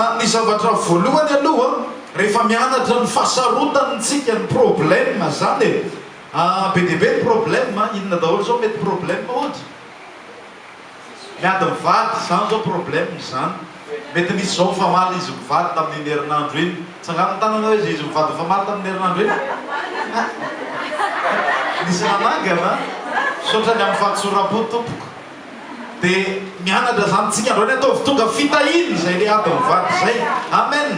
Ary ny zavatra voalohany aloha rehefa mianatra ny fahasarotan'ny tsika ny problème zany e, be dia be ny problème, inona daholo zao mety problème ohatra? Miady mivady zany zao problème izany mety nisy zao famaly izy mivady tamin'iny herinandro iny tsangano ny tananao izy izy mivady famaly tamin'ny herinandro iny ah nisy nanangana misaotra ny amin'ny fahatsoram-po tompoko de mianatra zany tsika androany ataovy tonga fitahiana izay le ady mivady izay amen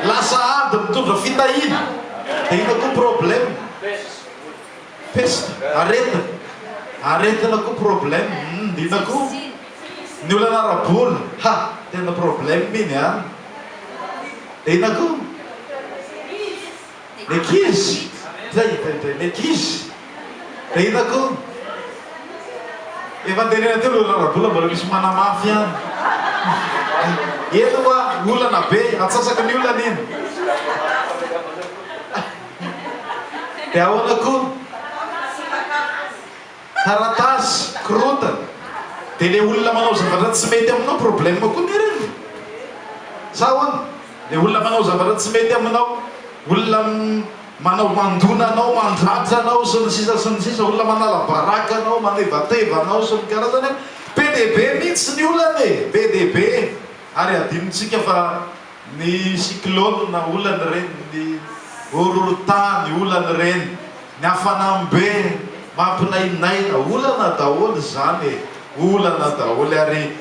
lasa ady mitondra fitahiana de ina koa problème Peste, aretina, aretina koa problème, humm ndrindra koa ny olana ara-bola, ha! tena problème iny an! Inona koa? Ny ankizy, zay indray indray ny ankizy, dia inona koa? Efa nitenena teo ny olana ara-bola mbola misy manamafy ihany, eny hoa olana be, atsasaka ny olana iny. Dia ahoana kony? Taratasy, korontana. Dia le olona manao zavatra tsy mety aminao problème koa ny reny? Sa ahoana? Le olona manao zavatra tsy mety aminao, olona manao mandona anao, mandratra anao sy ny sisa sy ny sisa, olona manala baraka anao, manevateva anao sy ny karazany an! Be dia be mihitsy ny olana e! Be dia be e! Ary hadinontsika fa. Ny cyclone na olana ireny, ny horohorontany olana ireny, ny hafanambe mampinainaina olana daholo izany e, olana daholo ary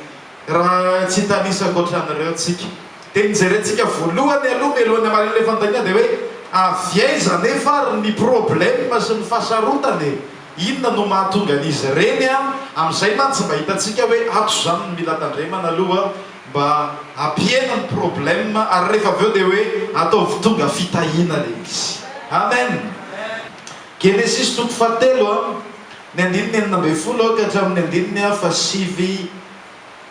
raha tsy hitanisako ohatran'ireo tsika dia ny jerentsika voalohany aloha mialoha ny hamaliana ilay fanontaniana dia hoe avy aiza anefa ary ny problème sy ny fahasarotana e? Inona no mahatonga an'izy ireny an? Amin'izay mantsy mba hitantsika hoe ato izany no mila tandremana aloha Mba hampihena ny problème ary rehefa avy eo dia hoe ataovy tonga fitahiana ilay izy. Amen! Genesisy toko fahatelo a, ny andininy enina ambin'ny folo ka hatramin'ny andininy fahasivy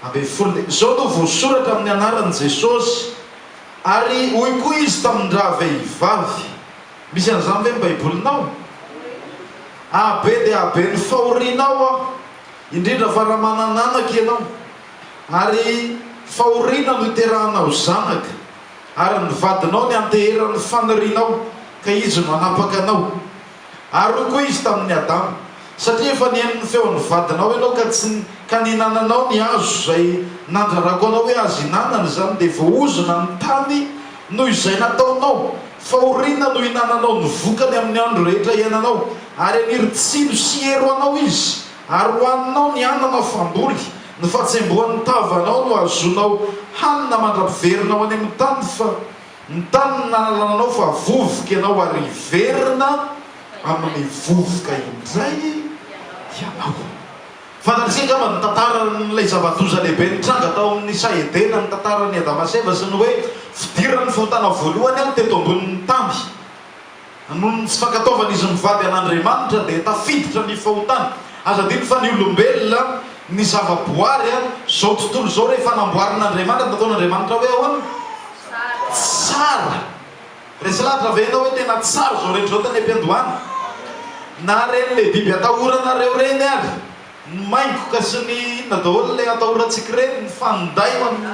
ambin'ny folo dia izao no voasoratra amin'ny anaran'i Jesosy, Ary hoy koa izy tamin-dravehivavy. Misy an'izany ve ny Baibolinao? Ah, be dia be ny fahorianao aho, indrindra fa raha manana anaka ianao. Ary fahoriana no iterahana ho zanaka, ary ny vadinao niantehera ny fanirianao, ka izy no hanapaka anao. Ary hoy koa izy tamin' i Adama, Satria efa nihaino ny feon' ny vadinao ianao ka tsy ka nihinananao ny hazo izay nandrarako anao hoe azo ihinanana izany, dia voahozona ny tany noho izay nataonao, fahoriana no hihinananao ny vokany amin' ny andro rehetra iainanao, ary haniry tsilo sy hero anao izy. Ary hohaninao ny ananao famboly, ny fatsembohan'ny tavanao no hahazoanao hanina mandra-piverina ho any amin'ny tany fa ny tany nanalananao fa vovoka ianao ary hiverina amin'ny vovoka indray ianao. Fantatr'isika angamba ny tantaran'ilay zava-doza lehibe nitranga tao amin'ny saha Edena, ny tantaran'i Adama sy Eva sy ny hoe fidiran'ny fahotana voalohany teto ambonin'ny tany. Noho ny tsy fankatoavan'izy mivady an'Andriamanitra dia tafiditra ny fahotana. Aza adino fa ny olombelona, ny zavaboary, izao tontolo izao rehefa namboarin'Andriamanitra, nataon'Andriamanitra hoe ahoana? Tsara. Resy lahatra ve ianao hoe tena tsara izao rehetra izao tany am-piandohana? Naharen'ilay biby atahorana ireo reny ary Ny maingoka sy ny inona daholo ilay atahorantsika ireny ny fanday ho an'ny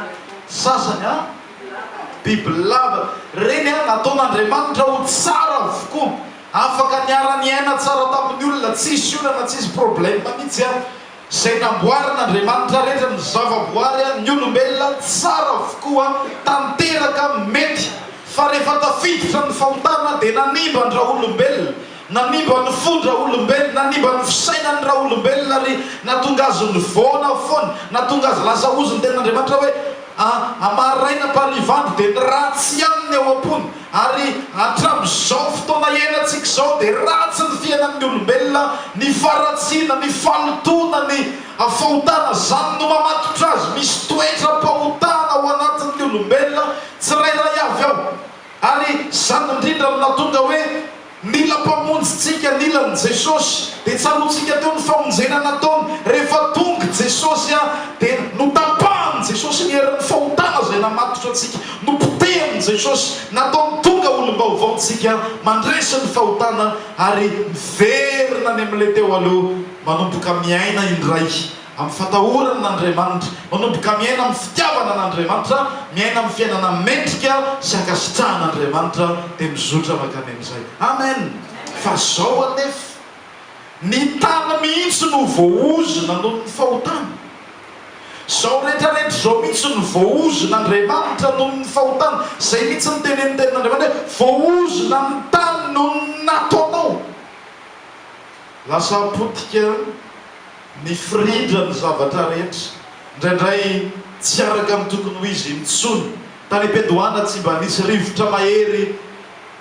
sasany an! Bibilava ireny an! Nataon'Andriamanitra ho tsara avokoa, afaka niara-niaina tsara tamin'ny olona, tsisy olana, tsisy problème mihitsy an! Izay namboarin'Andriamanitra rehetra, ny zavaboary an, ny olombelona an, tsara avokoa an! Tanteraka mety, fa rehefa tafiditra ny fahotana dia nanimba an-dRaolombelona, Nanimba ny fon-draolombelona, nanimba ny fisainan'ny raolombelona ary nahatonga azy nivaona foana, nahatonga azy lasa ozy ny Tenin'Andriamanitra hoe, A maraina am-pariva andro dia ny ratsy ihany ny ao am-pony. Ary hatramin'izao fotoana iainantsika izao dia ratsy ny fiainan'ny olombelona, ny faharatsiana, ny fahalotoana, ny fahotana. Izany no mamatotra azy. Misy toetram-pahotana ao anatin'ny olombelona tsirairay avy ao. Ary izany indrindra no nahatonga hoe nila Mpamonjy tsika, nila an'i Jesosy. Dia tsaroantsika teo ny famonjena nataony, rehefa tonga Jesosy dia notapahan'i Jesosy ny herin'ny fahotana izay namatotra antsika, nopotehin'i Jesosy, nataony tonga olom-baovao tsika, mandresy ny fahotana ary miverina any amin'ilay teo aloha manomboka miaina indray. Amin'ny fatahorana an'Andriamanitra. Manomboka miaina amin'ny fitiavana an'Andriamanitra, miaina amin'ny fiainana mendrika sy ankasitrahan'Andriamanitra, dia mizotra mankany amin'izay. Amen! Fa izao anefa, ny tany mihitsy no voaozona noho ny fahotana. Izao rehetrarehetra izao mihitsy no voaozon'Andriamanitra noho ny fahotana. Izay mihitsy no tenenin'ny Tenin'Andriamanitra hoe, Voaozona ny tany noho ny nataonao. Lasa potika. Nifirindra ny zavatra rehetra, indraindray tsy araka amin'ny tokony ho izy intsony. Tany am-piandohana tsy mba nisy rivotra mahery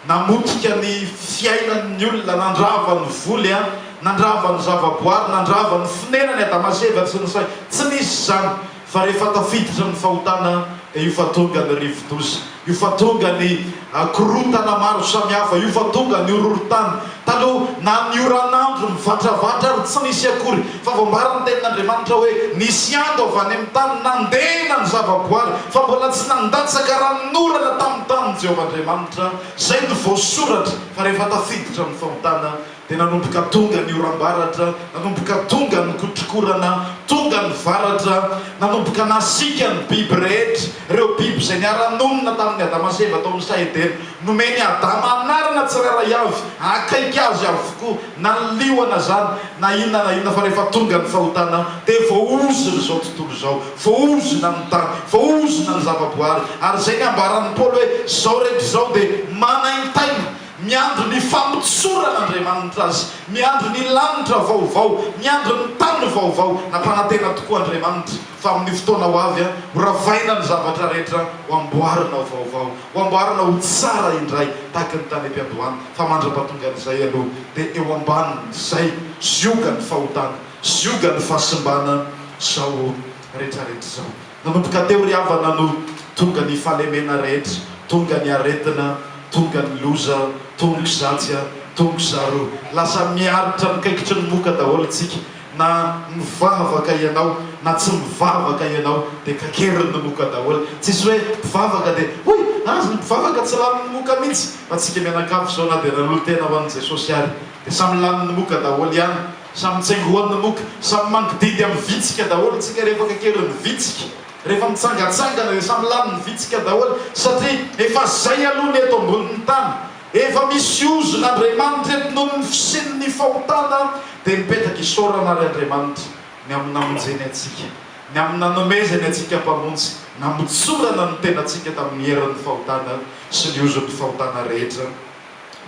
namotika ny fiainan'ny olona, nandrava ny voly, nandrava ny zavaboary, nandrava ny fonenany Adama sy Eva tsy nisy izany. Fa rehefa tafiditra ny fahotana dia io fa tonga ny rivodoza, io fa tonga ny korontana maro samihafa, io fa tonga ny horohorontany. Taloha, na ny oran'andro mivatravatra ary tsy nisy akory, fa voambaran'ny Tenin'Andriamanitra hoe nisy ando avy any amin'ny tany nandena ny zavaboary, fa mbola tsy nandatsaka ranon'orana tamin'ny tanin'i Jehovah Andriamanitra. Izay no voasoratra fa rehefa tafiditra ny fahotana Dia nanomboka tonga ny oram-baratra, nanomboka tonga ny kotrokorana, tonga ny varatra, nanomboka nasiaka ny biby rehetra, ireo biby izay niara-nonina tamin'i Adama sy Eva tao amin'ny saha Edena. Nomen'i Adama anarana tsirairay avy, akaiky azy avokoa, naliona izany na inona na inona, fa rehefa tonga ny fahotana dia voahozona izao tontolo izao, voahozona ny tany, voahozona ny zava-boahary, ary izay ny ambaran'i Paoly hoe izao rehetra izao dia manaintaina. Miandry ny famotsorana Andriamanitra azy. Miandry ny lanitra vaovao. Miandry ny tany vaovao. Nampanantena tokoa Andriamanitra fa amin'ny fotoana ho avy horavaina ny zavatra rehetra, ho amboarina ho vaovao, ho amboarina ho tsara indray tahaka ny tany am-piandohana, fa mandra-pahatongan'izay aloha dia eo ambanin'izay ziogan'ny fahotana, ziogan'ny fahasimbana izao rehetrarehetra izao. Nanomboka teo ry havana no tonga ny fahalemena rehetra, tonga ny aretina, tonga ny loza, tongo zatsy a, tongo zaro, lasa miaritra ny kaikitry ny moka daholo isika, na mivavaka ianao na tsy mivavaka ianao dia kakerin'ny moka daholo, tsisy hoe mpivavaka dia hoy aza ny mpivavaka tsy lanin'ny moka mihitsy, fa tsika mianakavy izao na dia nanolo-tena ho an'i Jesosy ary dia samy lanin'ny moka daholo ihany. Samy tsengoana mok, samy mangididy amin'ny vitsika daholo tsika rehefa kakerin'ny vitsika, rehefa mitsangatsangana dia samy lanin'ny vitsika daholo satria efa zay aloha ny eto ambonin'ny tany, efa misy ozona Andriamanitra eto noho ny fisian'ny fahotana dia mipetraka isaorana ary Andriamanitra ny amin'ny namonjeny antsika, ny amin'ny nanomezany antsika Mpamonjy namotsorana ny tenantsika tamin'ny herin'ny fahotana sy ny ozon'ny fahotana rehetra.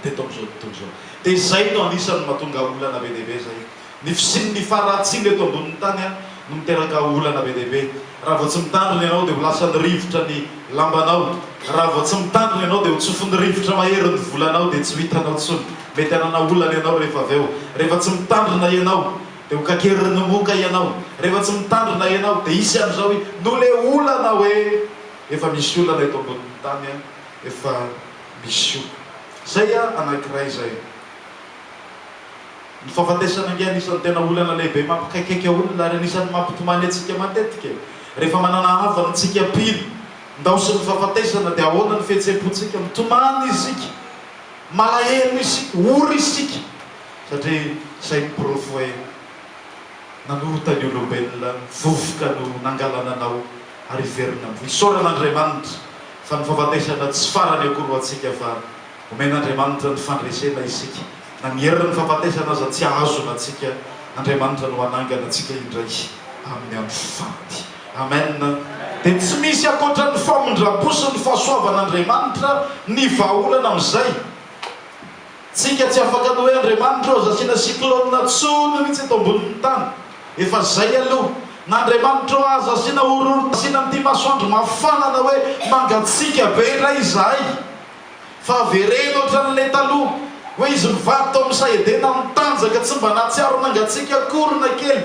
teto amin'izao tontolo izao. Dia izay no anisan'ny mahatonga olana be dia be izay. Ny fisian'ny faharatsiana eto ambonin'ny tany no miteraka olana be dia be. Raha vao tsy mitandrina ianao dia ho lasan'ny rivotra ny lambanao. Raha vao tsy mitandrina ianao dia ho tsofin'ny rivotra mahery ny volanao dia tsy ho hitanao intsony. Mety hanana olana ianao rehefa avy eo. Rehefa tsy mitandrina ianao dia ho kakerin'ny moka ianao. Rehefa tsy mitandrina ianao dia hisy an'izao i. Noho ilay olana hoe efa misy olana eto ambonin'ny tany, efa. Bisous. Zay a anakiray zay. Ny fahafatesana ange anisan'ny tena olana lehibe mampikaikaika olona ary anisan'ny mampitomany antsika matetika e! Rehefa manana havana antsika mpino, ndaosin'ny fahafatesana dia ahoana ny fihetsem-pontsika? Mitomany isika, malahelo isika, ory isika satria zay ny porofo hoe nanorta ny olombelona, vovoka no nangalananao ary hiverina amin'i. Isaorana Andriamanitra. fa ny fahafatesana tsy farany akory ho antsika fa omen'Andriamanitra ny fandresena isika, na ny herin'ny fahafatesana aza tsy ahazona antsika, Andriamanitra no hanangana antsika indray amin'ny andro faty. Amen. Dia tsy misy ankoatra ny famindram-po sy ny fahasoavan'Andriamanitra ny vahaolana amin'izay. Tsika tsy afaka ny hoe Andriamanitra aza asiana cyclone tsony mitsy eto ambonin'ny tany efa zay aloha na Andriamanitra ô aza asiana horohoro asiana an'ity masoandro mafana na hoe mangatsiaka be indray izahay fa avereno otran'ilay taloha hoe izy mivady tao amisa edena mitanjaka tsy mba nahatsiaro mangatsiaka akory na kely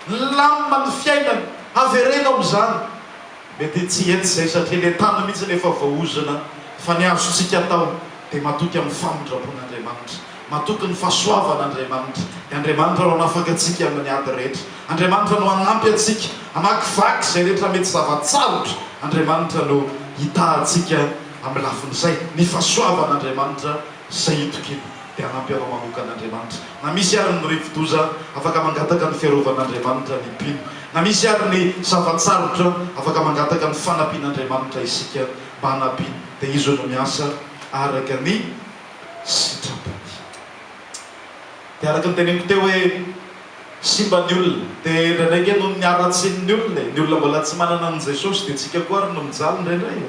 nilamina ny fiainany avereno amizany Mety tsy hety izay satria ilay tany mihitsy no efa voaozona fa ny azontsika atao dia matoky amin'ny famindram-pon'Andriamanitra, matoky ny fahasoavan'Andriamanitra. I Andriamanitra no hanafaka antsika amin'ny ady rehetra. Andriamanitra no hanampy antsika hamakivaky izay rehetra mety zava-tsarotra. Andriamanitra no hitaha antsika amin'ny lafin'izay, ny fahasoavan'Andriamanitra. Saito kely dia hanampy anao manoka an'Andriamanitra. Na misy ary ny rivodoza, afaka mangataka ny fiarovan'Andriamanitra ny mpino. Na misy ary ny zava-tsarotra, afaka mangataka ny fanampian'Andriamanitra isika mba hanampiany. Dia Izy no miasa araka ny sitrapony. Dia araka ny teneniko teo hoe simba ny olona. Dia indraindray ange noho ny haratsian'ny olona e. Ny olona mbola tsy manana an'i Jesosy dia tsika koa ary no mijaly indraindray e.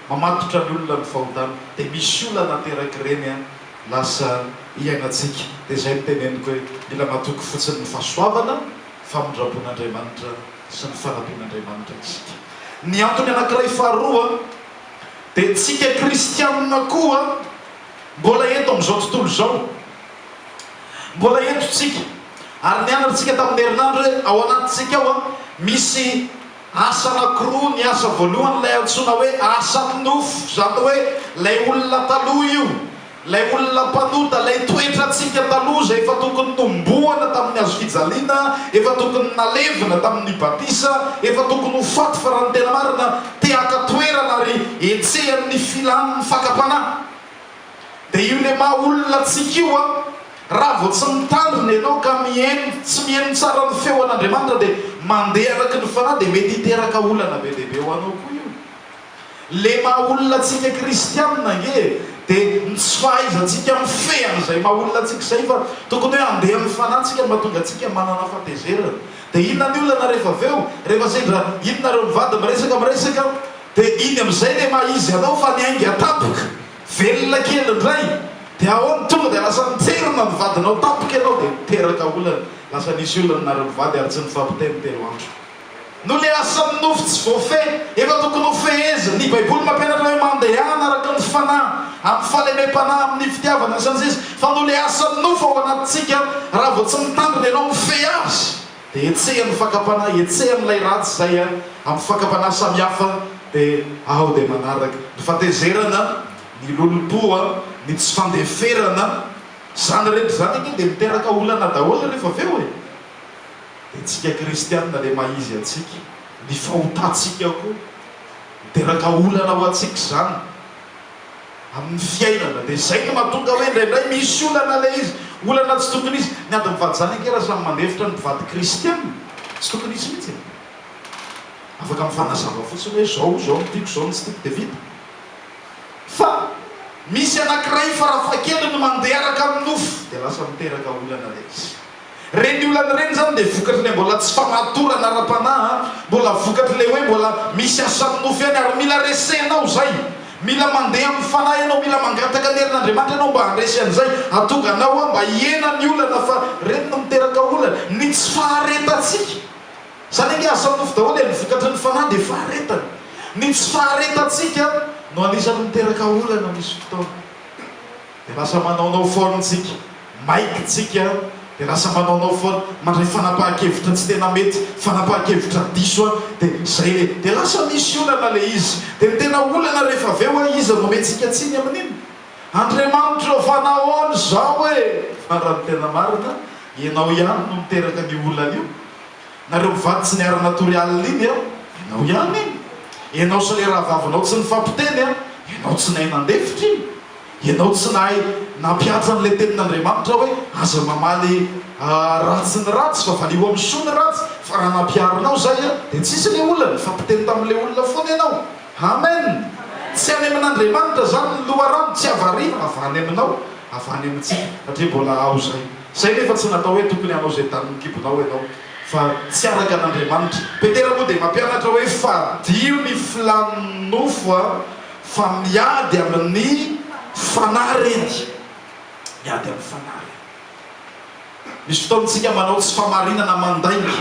Mamatotra ny olona ny fahotana de misy olana ateraky reny an lasa iainantsika de zay no teneniko hoe mila matoky fotsiny ny fahasoavana famindrapon'Andriamanitra sy ny fanampian'Andriamanitra isika ny antony anakiray faharoa de tsika kristianina koa mbola eto amin'izao tontolo izao mbola eto tsika ary nianatrtsika tamin'ny herinandro hoe ao anatintsika ao an misy Asa anankiroa ny asa voalohany ilay antsoina hoe asan'ny nofo, izany hoe ilay olona taloha io, ilay olona mpanota, ilay toetrantsika taloha izay efa tokony nomboana tamin'ny hazo fijaliana, efa tokony nalevina tamin'ny batisa, efa tokony ho faty fa raha ny tena marina te haka toerana ary hetsehan'ny filan'ny fakam-panahy. Dia io le maha olona antsika io an! Raha vao tsy mitandrina ianao ka mihaino, tsy mihaino tsara ny feon'Andriamanitra dia mandeha araka ny fanahy dia mety hiteraka olana be dia be ho anao koa io. Le maha olona antsika kristianina ange e! Dia ny tsy fahaizantsika mifehy an'izay maha olona antsika izay fa tokony hoe handeha ny fanahintsika no mahatonga antsika manana fahatezerana. Dia inona ny olana rehefa avy eo? Rehefa sendra iny nareo mivady miresaka miresaka dia iny amin'izay le maha izy anao fa niainga tampoka. Velona kely indray dia ahoana? Tonga dia lasa nijerona ny vadinao tampoka ianao dia niteraka olana. Lasa nisy olana nary mivady ary tsy nifampiteny telo andro. Noho ilay asan'ny nofo tsy voafehy, efa tokony ho fehezina. Ny Baiboly mampianatra hoe mandehana araka ny fanahy, amin'ny fahalemem-panahy, amin'ny fitiavana, sy ny sisa Fa noho ilay asan'ny nofo ao anatintsika, raha vao tsy mitandrina ianao mifehy azy. dia hetseha ny fakam-panahy, hetseha ny ilay ratsy izay a, amin'ny fakam-panahy samihafa, dia aho dia manaraka ny fatezerana, ny lolompo a, ny tsy fandeferana, izany rehetra izany anie dia miteraka olana daholo rehefa avy eo e! dia tsika kristianina dia maha-izy antsika, ny fahotantsika koa miteraka olana ho antsika izany, amin'ny fiainana dia izay no mahatonga hoe indraindray misy olana ilay izy, olana tsy tokony hisy. Ny ady mivady izany ankera samy mandefitra ny mpivady kristiana, tsy tokony hisy mihitsy e! Afaka mifanazava fotsiny hoe izao, izao no tiako, izao no tsy tiako dia vita. Fa misy anankiray farafahakeliny mandeha araka ny nofo dia lasa miteraka olana ilay izy. Ireny olana ireny izany dia vokatry ilay mbola tsy famatorana ara-panahy, mbola vokatry ilay hoe mbola misy asan'ny nofo ihany ary mila resena ao izay. Mila mandeha amin'ny Fanahy ianao, mila mangataka ny herin'Andriamanitra ianao mba handresy an'izay atongana ao ao mba hihena ny olana fa ireny no miteraka olana. Ny tsy faharetantsika, izany ange asan'ny nofo daholo e, ny vokatry ny Fanahy dia faharetana. Ny tsy faharetantsika no anisan'ny miteraka olana misy fotoana. Dia lasa manaonao foana tsika, maiky tsika, dia lasa manaonao foana, mandray fanapahan-kevitra tsy tena mety, fanapahan-kevitra diso, dia zay le, dia lasa misy olana le izy, dia ny tena olana rehefa avy eo a, iza no omentsika tsiny amin'iny? Andriamanitra ô, fa nahoana izao e? Farany tena marina, ianao ihany no niteraka an'io olana io, Nareo mivady tsy niarana tory alina iny a, enao ihany iny. Enao sy le rahavavinao tsy nifampiteny a, enao tsy nahay nandefitra iny. Enao tsy nahay nampihatsa an'le tenin'Andriamanitra hoe aza mamaly ratsy ny ratsy fa valio amin'ny soa ny ratsy fa raha nampiharinao zay a de tsisy le olona, nifampiteny tamin'le olona foana enao. Amen! Tsy any amin'Andriamanitra zany ny loharano, tsy avy ary avy any aminao, avy any amintsika satria mbola ao zay. Izay nefa tsy natao hoe tokony hanao izay danin'ny kibonao ianao fa tsy araka an'Andriamanitra. Petera moa dia mampianatra hoe fadio ny filàn'ny nofo fa miady amin'ny fanahy ireny. Miady amin'ny fanahy ireny. Misy fotoana isika manao tsy fahamarinana mandainga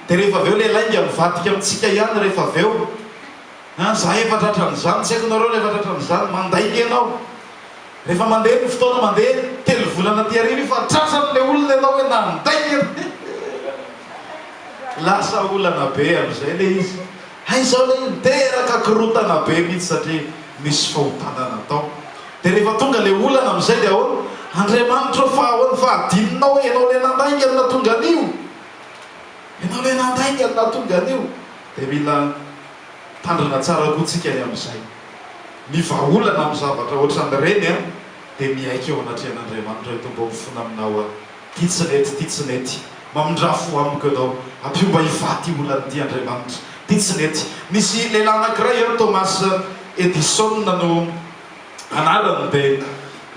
dia rehefa avy eo ilay lainga mivadika amintsika ihany rehefa avy eo. Izaho efa tratran'izany, tsy haiko ianareo rehefa tratran'izany, mandainga ianao. Rehefa mandeha ny fotoana mandeha, telo volana aty aoriana io fa tratran'ilay olona ianao hoe nandainga ianao he he! Lasa olana be amin'izay ilay izy. Hay izao ilay izy niteraka korontana be mihitsy satria nisy fahotana natao. Dia rehefa tonga ilay olana amin'izay dia ahoana? Andriamanitra ô fa ahoana fa adinonao hoe ianao ilay nandainga no nahatonga an'io? Ianao ilay nandainga no nahatonga an'io? Dia mila. Tandrina tsara koa tsika e amin'izay. Ny vahaolana amin'ny zavatra ohatran'ireny an, dia miaiky eo anatrehan'Andriamanitra eto mba ho fona aminao aho ty tsy nety ty tsy nety mamindrà fo amiko ianao ampio mba hivaha ty olana ty Andriamanitra ty tsy nety nisy lehilahy anakiray an Thomas Edison no anarany dia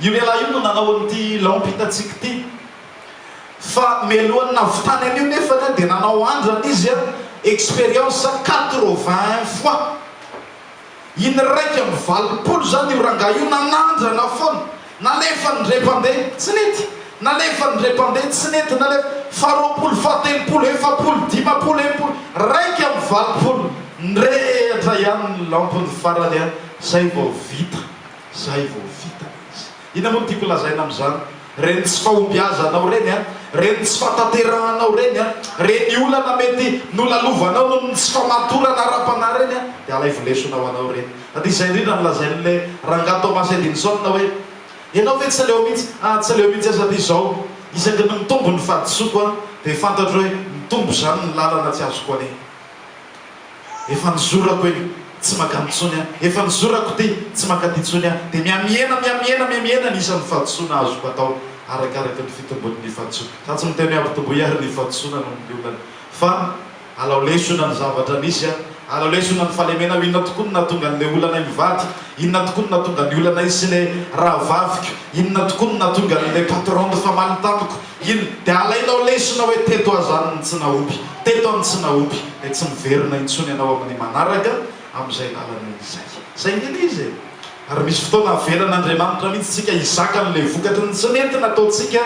io lehilahy io no nanao an'ity lampy hitantsika ity Fa mialohan'ny nahavitany an'io nefany dia nanao andrana izy an, expérience quatre-vingt-un fois. In'iraika amby valopolo izany io rangahy io nanandrana foana. Nalefany indray mpandeha, tsy nety. Nalefany indray mpandeha, tsy nety. Nalefany faharoapolo, fahatelopolo, efapolo, dimampolo, enimpolo, iraika amby valopolo. Nirehitra ihany ny lampony farany an, izay vao vita. Izay vao vita izy. Inona moa no tiako lazaina amin'izany? Ireny tsy fahombiazanao ireny an, ireny tsy fahatanterahanao ireny an, ireny olana mety nolalovanao noho ny tsy famatorana ara-panahy ireny an, dia alaivo lesona ho anao ireny. Na dia izay indrindra no lazain'ilay Rangahy Thomas Edinson hoe, Ianao ve tsy aleo mihitsy, ah, tsy aleo mihitsy aho satria izao, isaky ny mitombo ny fahadisoako an, dia fantatro hoe mitombo izany ny lalana tsy azoko anie. Efa nizorako iny, tsy makany intsony an! Efa nizorako ity, tsy mankaty intsony an! Dia mihamihena, mihamihena, mihamihena ny isan'ny fahadisoana azoko atao arakaraky ny fitombon'ny fahadisoako. Fa tsy miteny hoe ampitomboy àry ny fahadisoana noho ny olana, fa alao lesona ny zavatra nisy an! Alao lesona ny fahalemenao! Inona tokoa no nahatonga an'ilay olanay mivady? Inona tokoa no nahatonga ny olanay sy ilay rahavaviko? Inona tokoa no nahatonga an'ilay patron nifamaly tamiko? Iny dia alainao lesona hoe teto aza any ny tsinaopy, teto any tsinaopy dia tsy miverina intsony ianao amin'ny manaraka amin'izay lalana izay. Izay ny an'izy e! Ary misy fotoana avelan'Andriamanitra mihitsy tsika hizaka an'ilay vokatry ny tsy nety nataontsika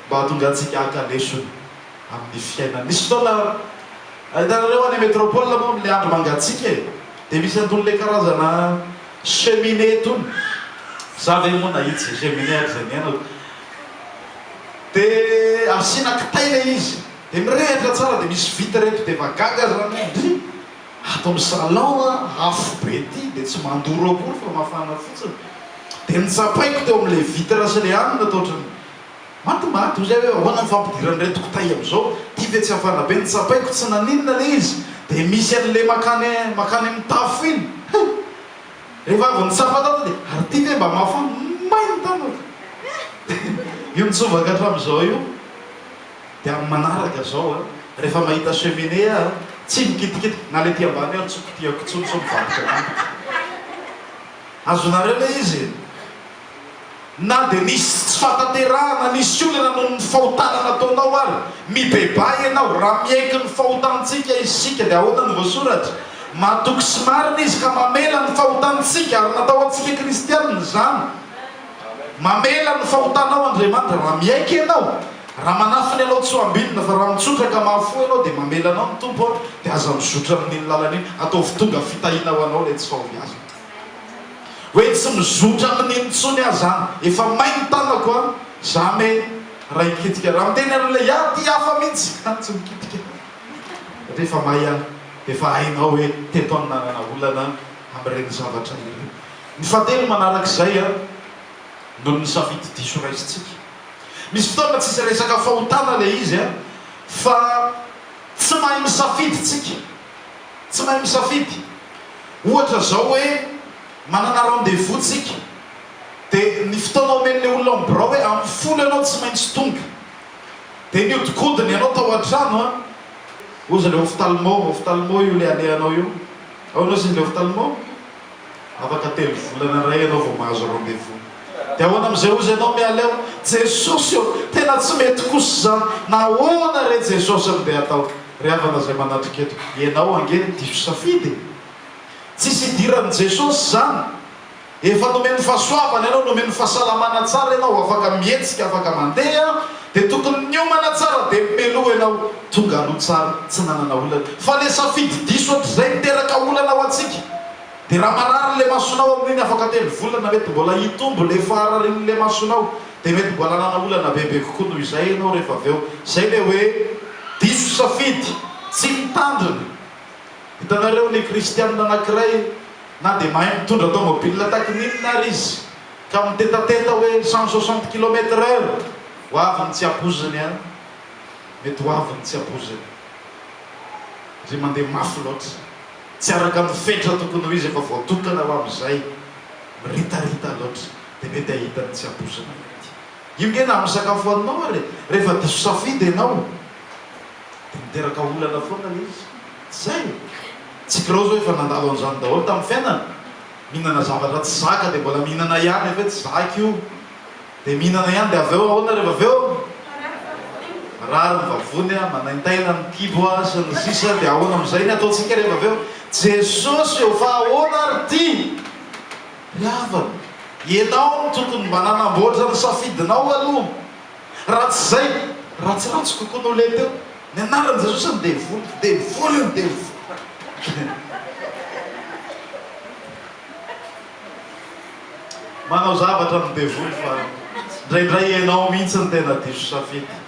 mba hahatongantsika haka lesona amin'ny fiainana. Misy fotoana, hitanareo any metropole moa amin'ilay andro mangatsiaka e, dia misy anton'ilay karazana cheminée tony, za ve moa nahita izay cheminée ary izay niainako, de asiana kitay le izy de mirehitra tsara de misy vita reto de efa gaga zany hoe ndry ato am salon a afo be ty de tsy mandoro akory fa mafana fotsiny de notsapaiko teo amle vitre sy le aminy ato otrany maty maty ozy aho hoe ahoana ny fampidirany reto kitay am zao ty ve tsy hafana be notsapaiko tsy naninona le izy de misy anle makany makany am tafo iny hum. Rehefa avy nitsapa tato dia, ary ity ve mba mafy hono? May ny tanako! Io nitsovaka hatramin'izao io. Dia amin'ny manaraka izao an, rehefa mahita cheminée aho, tsy mikitikitika, na ilay ety ambany ary tsy ho kitihako intsony sao mivarotra tampoka. Azonareo ilay izy e? Na dia nisy tsy fahatanterahana, nisy olana noho ny fahotana nataonao ary, mibebaha ianao, raha miaiky ny fahotantsika isika, dia ahoana no voasoratra? Matoky sy marina Izy ka mamela ny fahotantsika, ary natao antsika kristianina izany. Mamela ny fahotanao Andriamanitra, raha miaiky ianao, raha manafina ianao tsy ho ambinina, fa raha mitsotra ka mahafoy ianao, dia mamela anao ny Tompo, dia aza mizotra amin'iny lalana iny, ataovy tonga fitahiana ho anao ilay tsy fahoviazana. Hoe tsy mizotra aminy intsony aza an! Efa may ny tanako an! Za me raha hikitika raha miteny anao le iah ty hafa mintsy an! Tsy mikitika satria efa may an! Efa hainao hoe teto aho no nanana olana amin'ireny zavatra ireny. Ny fahatelo manarak'izay an! Noho ny safidy diso raisintsika. Misy fotoana tsisy resaka fahotana le izy an! Fa tsy mahay misafidy tsika. Tsy mahay misafidy. Ohatra izao hoe manana rendez-vous tsika dia ny fotoana omen'ilay olona ao amin'ny birao hoe amin'ny folo ianao tsy maintsy tonga. Dia nihodinkodina ianao tao an-trano an! Ozy ilay ophtalmo, ophtalmo io ilay alehanao io. Ao ianao ozy ilay ophtalmo? Afaka telo volana indray ianao vao mahazo rendez-vous. Dia ahoana amin'izay hozy ianao miala eo? Jesosy ô! Tena tsy mety kosa izany! Na ahoana re Jesosy no dia atao? Ry havana izay manatrika eto, ianao ange no diso safidy e! Tsisy idiran'i Jesosy izany! Efa nomeny fahasoavana ianao, nomeny fahasalamana tsara ianao, afaka mihetsika, afaka mandeha, Dia tokony niomana tsara be meloa ianao tonga aloha tsara tsy nanana olana fa le safidy diso hatrizay miteraka olana ho antsika dia raha marary le masonao amin'iny afaka telo volana mety mbola hitombo le fahararin'le masonao dia mety mbola hanana olana bebe kokoa noho izay ianao rehefa avy eo zay le hoe diso safidy tsy mitandrina hitanareo ny kristianina anakiray na dia mahay mitondra tomobilina takin'inona ary izy Ka mitetateta hoe cent soixante kilomètre heure ho avy ny tsy aboziny an! Mety ho avy ny tsy aboziny ry mandeha mafy loatra tsy araka ny fetra tokony ho izy efa voatokana ho amin'izay miritarita loatra dia mety ahita ny tsy abozina mety io nge na amin'ny sakafo haninao ary rehefa diso safidy ianao dia miteraka olana foana ilay izy tsy izay e! tsy kiraozy hoe efa nandalo an'izany daholo tamin'ny fiainany Mihinana zavatra tsy zaka dia mbola mihinana ihany avy eo tsy zaka io dia mihinana ihany dia avy eo ahoana rehefa avy eo? Marary ny vavony, manaintaina ny kibo ary sy ny sisa dia ahoana amin'izay ny ataontsika rehefa avy eo? Jesosy ô fa ahoana ary ity? Ry havana, ianao no tokony mba nanamboatra ny safidinao aloha. Raha tsy izay, ratsiratsy kokoa noho ilay teo. Ny anaran'i Jesosy ny devoly, devoly ny devoly. Manao zavatra ny devoly fa indraindray ianao mihitsy no tena diso safidy.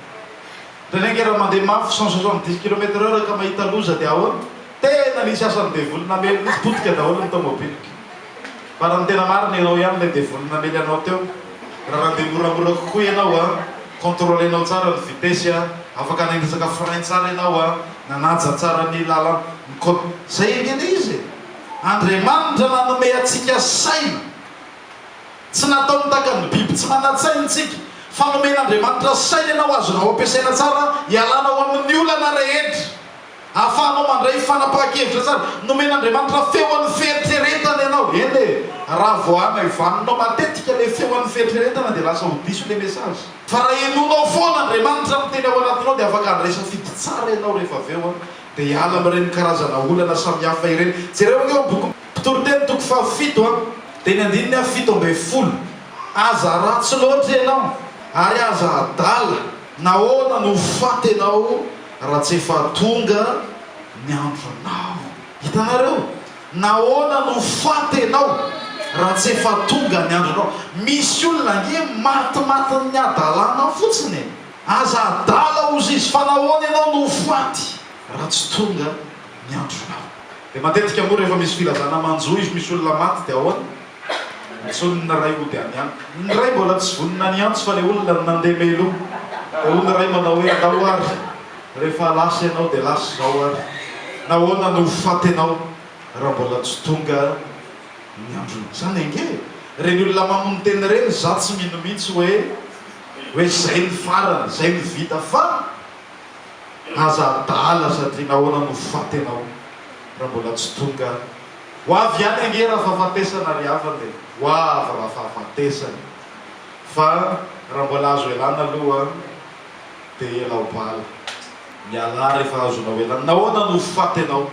Indraindray raha mandeha mafy cent soixante dix kilomètre heure ka mahita loza dia ahoana? Tena nisy asan'ny devoly namely mihitsy, potika daholo ny tomobiliko. Fa raha ny tena marina ianao ihany ilay devoly namely anao teo. Raha nandeha moramora kokoa ianao a, contrôlenao tsara ny vitesse a, afaka nanitsaka frein tsara ianao a, nanaja tsara ny lalan, ny côte. Izay anie ilay izy e! Andriamanitra nanome antsika saina. Tsy natao nitakan'ny biby tsy manan-tsaina isika, fa nomen'Andriamanitra saina ianao azonao ampiasaina tsara hialanao amin'ny olana rehetra. Ahafahanao mandray fanapahan-kevitra tsara. Nomen'Andriamanitra feo an'ny fieritreretana ianao. Eny e! Raha vao hamaivaninao matetika ilay feo an'ny fieritreretana dia lasa ho diso ilay message. Fa raha henoinao foana Andriamanitra miteny ao anatinao dia afaka handray safidy tsara ianao rehefa avy eo dia hiala amin'ireny karazana olana samihafa ireny. Jereo anie ao amin'ny boky Mpitoriteny toko fahafito a, dia ny andininy aha fito ambin'ny folo, Aza haratsy loatra ianao ary aza hadala. Nahoana no ho faty ianao? Raha tsy efa tonga ny andronao. Hitanareo? Nahoana no faty ianao raha tsy efa tonga ny andronao? Misy olona ange matimatin'ny hadalana fotsiny e! Aza adala hozy izy, fa nahoana ianao no ho faty raha tsy tonga ny andronao? Dia matetika moa rehefa misy filazana manjo izy misy olona maty dia ahoana? Antsoin' ny ray hody any an. Ny ray mbola tsy vonona ny hiantso fa le olona no nandeha meloa. Dia hoy ny ray manao hoe andao ary rehefa lasa ianao dia lasa izao ary nahoana no ho faty ianao raha mbola tsy tonga ny androny. Izany ange e! Ireny olona mamono tena ireny izaho tsy mino mihitsy hoe hoe izay ny farany, izay no vita fa aza adala sady nahoana no ho faty ianao raha mbola tsy tonga Ho avy ihany ange raha fahafatesana ry havana e! Ho avy raha fahafatesana e! Fa raha mbola azo elana aloha dia ela ho bala. Mialà rehefa azonao elana. Nahoana no ho faty ianao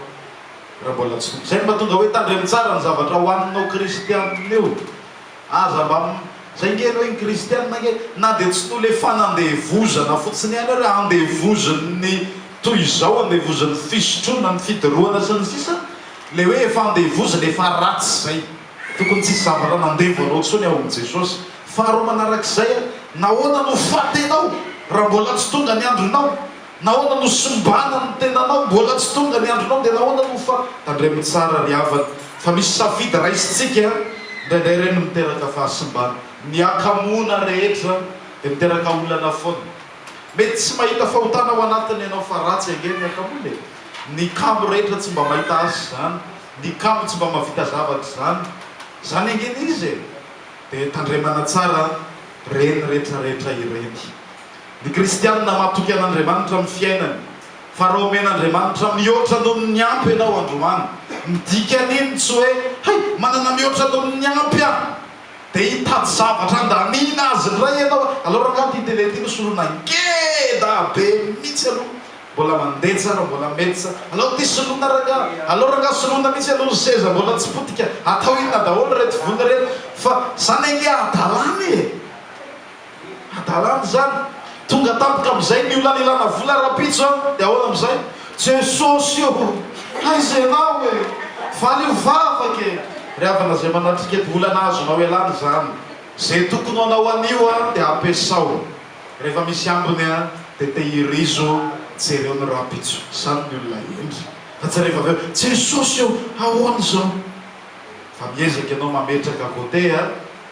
raha mbola tsy tompo? Izay no mahatonga hoe tandremo tsara ny zavatra hohaninao kristianina io. Aza mba Zay nge reo Kristiana nge na dia tsy nolefana andevozana fotsiny ihany ary andevozin'ny toy izao andevozin'ny fisotroana ny fidorohana sy ny sisa le hoe efa andevozina efa ratsy zay tokony tsisy zavatra nandevo anao tsony ao amin'i Jesosy faharoa manarak'izay nahoana no fatinao raha mbola tsy tonga ny andronao Nahoana no simbana ny tenanao? Mbola tsy tonga ny andronao dia nahoana no fa. Tandremo tsara ry havana fa misy safidy raisintsika an! Indraindray ireny no miteraka fahasimbana. Ny hakamoana rehetra dia miteraka olana foana. Mety tsy mahita fahotana ao anatiny ianao fa ratsy ange ny hakamoana e! Ny kamo rehetra tsy mba mahita azy izany, ny kamo tsy mba mahavita zavatra izany. Izany ange ilay izy e! Dia tandremana tsara ireny rehetrarehetra ireny. Ny kristianina matoky an'Andriamanitra amin'ny fiainany, fa raha omen'Andriamanitra mihoatra noho ny ampy ianao androany, ny dikan'iny tsy hoe, hay, manana mihoatra noho ny ampy aho, dia hitady zavatra handaniana azy indray ianao, aleo rangaha ity tele ity nosoloina ngeda be mihitsy aloha, mbola mandeha tsara, mbola mety tsara, aleo ity soloina rangaha, aleo rangaha soloina mihitsy aloha ny seza mbola tsy potika, atao inona daholo ireto vola ireto, fa izany ange hadalana e! Hadalana izany. Tonga tampoka amin'izay ny olona nilana vola rahampitso an! Dia ahoana amin'izay? Jesosy ô! Aiza ianao e! Valio vavaka e! Ry havana izay manatrika eto, olana azonao ialana izany. Izay tokony ho anao anio an, dia ampiasao. Rehefa misy ambiny an, dia tehirizo, jereo ny rahampitso. Izany ny olona hendry. Fa tsy rehefa avy eo, Jesosy ô! Ahoana izao? Fa miezaka ianao mametraka côté an!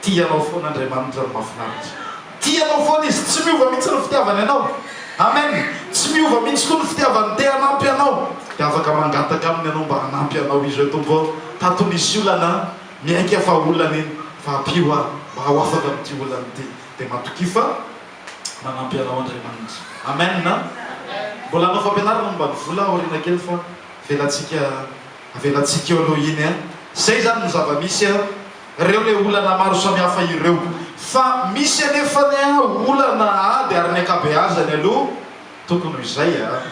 Tia anao foana Andriamanitra ny mafinaritra. Tia anao foana izy, tsy miova mihitsy ny fitiavany anao. Amen! Tsy miova mihitsy koa ny fitiavany, te hanampy anao. Dia afaka mangataka aminy ianao mba hanampy anao izy hoe, Tompo ô, tato nisy olana an, miaiky aho fa olana iny, fa ampio aho mba ho afaka amin'ity olana ity. Dia matokia fa manampy anao Andriamanitra. Amen! Mbola hanao fampianarana momba ny vola aho aoriana kely fa avelantsika, avelantsika eo aloha iny an. Izay izany no zava-misy an. Ireo ilay olana maro samihafa ireo. Fa misy anefa ny olana ady ary ny ankabeazany aloha tokony ho izay a!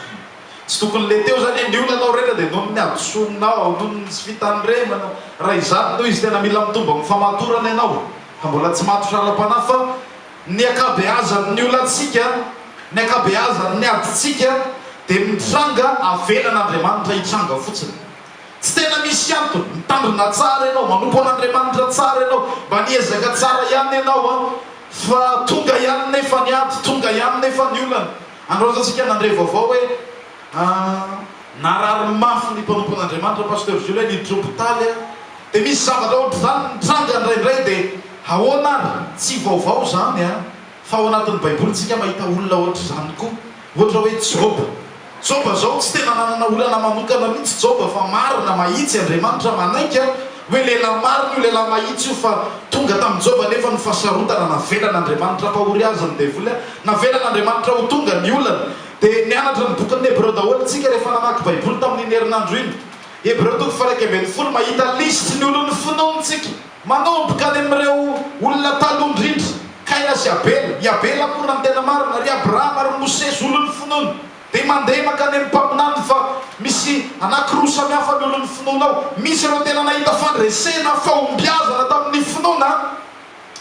Tsy tokony le teo zany hoe ny olanao rehetra dia noho ny hadisoanao, noho ny tsy fitandremana, raha izany no izy tena mila mitombo amin'ny famatorana ianao ka mbola tsy matotra ara-panahy fa ny ankabeazan' ny olantsika, ny ankabeazan' ny adintsika dia mitranga avelan' Andriamanitra hitranga fotsiny. Tsy tena misy antony, mitandrina tsara ianao, manompo an'Andriamanitra tsara ianao, mba niezaka tsara ihany ianao an, fa tonga ihany nefa ny ady, tonga ihany nefa ny olana. Androatantsika nandre vaovao hoe narary mafy ny mpanompo an'Andriamanitra, Pasteur Jules, ny Dropotaly an, dia misy zavatra ohatr'izany mitranga indraindray, dia ahoana ary, tsy vaovao izany an. Fa ao anatin'ny baiboly tsika mahita olona ohatr'izany koa. Ohatra hoe Joba. Joba zao tsy tena nanana olana manokana mihitsy Joba fa marina mahitsy Andriamanitra manaiky a! Hoe lehilahy marina io lehilahy mahitsy io fa tonga tamin'i Joba anefa ny fahasarotana navelan'Andriamanitra ampahory azy ny devoly a! Navelan'Andriamanitra ho tonga ny olana. Dia nianatra ny bokin'ny Hebreo daholo tsika rehefa namaky baiboly tamin'iny herinandro iny. Hebreo toko faha iraika ambin'ny folo mahita lisitry ny olon'ny finoany tsika. Manomboka any amin'ireo olona taloha indrindra, Kaina sy Abela, i Abela moa raha ny tena marina, ry Abrahama ary Mosesy olon'ny finoana, dia mandeha mankany amin'ny mpaminaniny fa misy anankiroa samy hafa ny olon'ny finoana ao. Misy ireo tena nahita fandresena, fahombiazana tamin'ny finoana,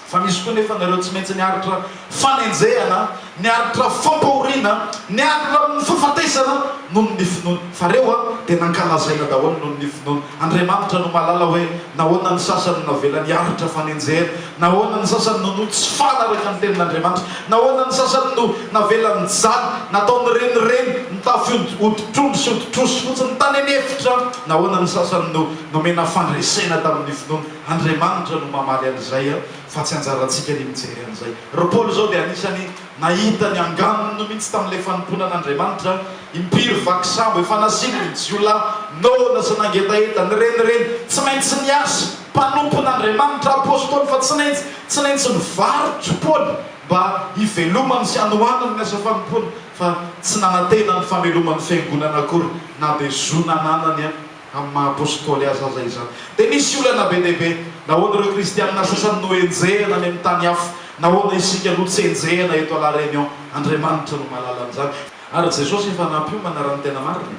fa misy koa anefa ireo tsy maintsy niaritra fanenjehana, ny aritra fampahoriana, ny aritra amin'ny fahafatesana noho ny finoany. Fa ireo dia nankalazaina daholo noho ny finoany. Andriamanitra no mahalala hoe nahoana ny sasany no navela ny aritra fanenjehana, nahoana ny sasany no no tsy faly araka ny tenin'Andriamanitra, nahoana ny sasany no navela nijaly, natao nirenireny, nitafy hoditr'ondry sy hoditr'osy fotsiny tany an'efitra, nahoana ny sasany no nomena fandresena tamin'ny finoany. Andriamanitra no mamaly an'izay. fa tsy anjarantsika ny mijery an'izay. Ry Paoly izao dia anisan'ny nahita ny anganony mihitsy tamin'ilay fanompoana an'Andriamanitra, impiry vaky sambo efa nasiany ny jiolahy, noana sy nangetaheta, nirenireny, tsy maintsy niasa, mpanompon'Andriamanitra, apostoly fa tsy naintsy, tsy naintsy nivarotry Paoly mba hivelomany sy hanohanany ny asa fanompoana, fa tsy nanantena ny fameloman'ny fiangonana akory na dia zo nananany amin'ny maha apôstôly azy aza izany. Dia nisy olana be dia be. Nahoana ireo kristiana sasany no henjehina any amin'ny tany hafa? Nahoana isika aloha tsy henjehina eto à La Réunion? Andriamanitra no mahalala an'izany. Ary Jesosy efa nampiomana raha ny tena marina e.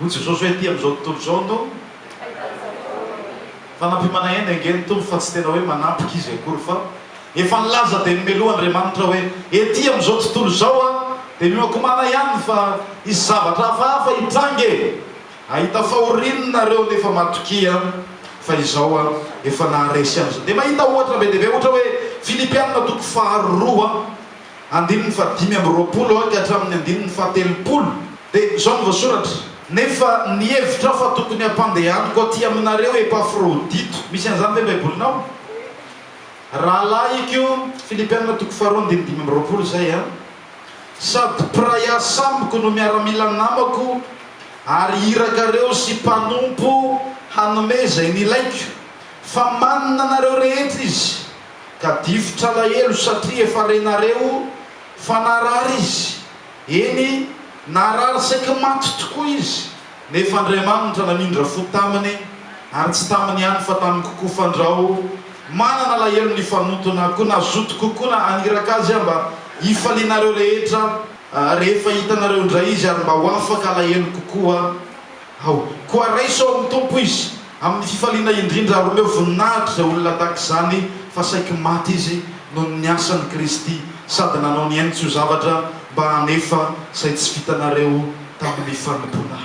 Hoy Jesosy hoe ety amin'izao tontolo izao no Fa nampiomana ihany ange ny Tompo fa tsy tena hoe manampika Izy akory fa efa nilaza dia nomeloha Andriamanitra hoe ety amin'izao tontolo izao aho dia mioakomana ihany fa hisy zavatra hafahafa hitranga e. Ahita fahoriany nareo nefa matokia fa izao an efa naharesy an'izao. Dia mahita ohatra be dia be ohatra hoe Filipianina toko faharoa andininy fahadimy amby roapolo ka hatramin'ny andininy fahatelopolo. Dia izao no voasoratra. Nefa nihevitra aho fa tokony hampandehaniko aty aminareo Epafrodito. Misy an'izany ve Baibolinao? Rahalahiko, Filipianina toko faharoa andininy dimy amby roapolo izay an. Sady mpiray asa amiko no miaramila namako ary iraka reo sy mpanompo hanome zay nilaiko fa manina nareo rehetra izy ka difotra alahelo satria efa renareo fa narary izy, eny narary saiky maty tokoa izy Nefa Andriamanitra namindra fo taminy, ary tsy taminy ihany fa tamiko koa, fandrao manana alahelo ny fanotona, koa na zotiko koa na haniraka azy aho mba hifalianareo rehetra rehefa hitanareo indray izy, ary mba ho afaka alahelo kokoa aho. Koa raiso ao amin'ny Tompo izy. Amin'ny fifaliana indrindra ary omeo voninahitra izay olona tahaka izany fa saiky maty izy noho ny asan'i Kristy sady nanao ny ainy tsy ho zavatra mba hanefa izay tsy vitanareo tamin'ny fanompoana.